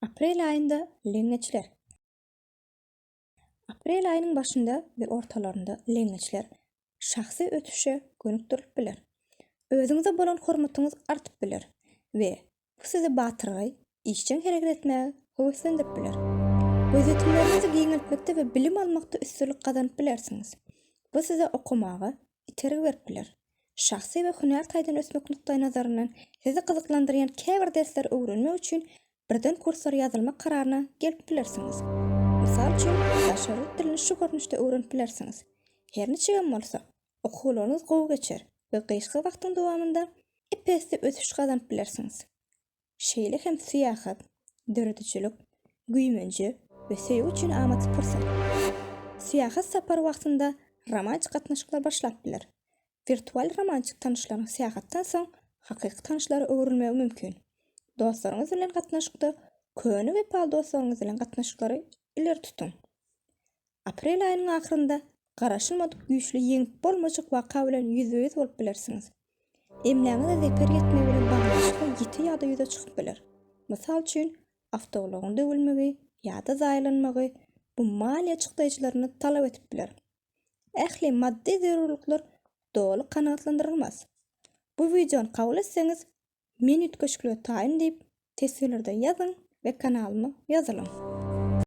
Aprel aýynda leňňeçler. Aprel aýynyň başynda we ortalarynda leňňeçler şahsy ösüşe gönükdirilip biler. Özüňize bolan hormatyňyz artyp biler we bu sizi batyrgaý, işjeň hereket etmäge höweslendirip biler. Gözýetimleriňizi giňeltmekde we bilim almakda üstünlik gazanyp bilersiňiz. Bu size okamaga, itergi berip biler. Şahsy we hünär taýdan ösmek nukdaýnazaryndan sizi gyzyklandyrýan käbir dersleri öwrenmek üçin birden kurslara ýazylmak kararyna gelip bilersiňiz. Mysal üçin, daşary ýurt dilini şu görnüşde öwrenip bilersiňiz. Her niçigem bolsa, okuwlaryňyz gowy geçer we gyşky wagtyň dowamynda ep-esli ösüş gazanyp bilersiňiz. şeýle hem syýahat, döredijilik, güýmenje we söýgi üçin amatly pursat. Syýahat sapary wagtynda romantik gatnaşyklar başlap biler. Wirtual romantik tanyşlaryň syýahatdan soň hakyky tanyşlara öwrülmegi mümkin. Dostlaryňyz bilen gatnaşykda köne wepaly dostlaryňyz bilen gatnaşyklary ileri tutuň. Aprel aýynyň ahyrynda garaşylmadyk güýçli ýeňip bolmajak waka bilen ýüzbe-ýüz bolup bilersiňiz. Emläňize zeper ýetmegi bilen baglanyşykly ýiti ýagdaý ýüze çykyp biler. Mysal üçin, awtoulagyň döwülmegi ýa-da zaýalanmagy bu maliýe çykdaýjylaryny talap edip biler. Ähli maddy zerurlyklar doly kanagatlandyrylmaz. Bu wideony kabul etseňiz, men üýtgeşiklige taýyn diýip, teswirlerde ýazyň we kanalyma ýazylyň.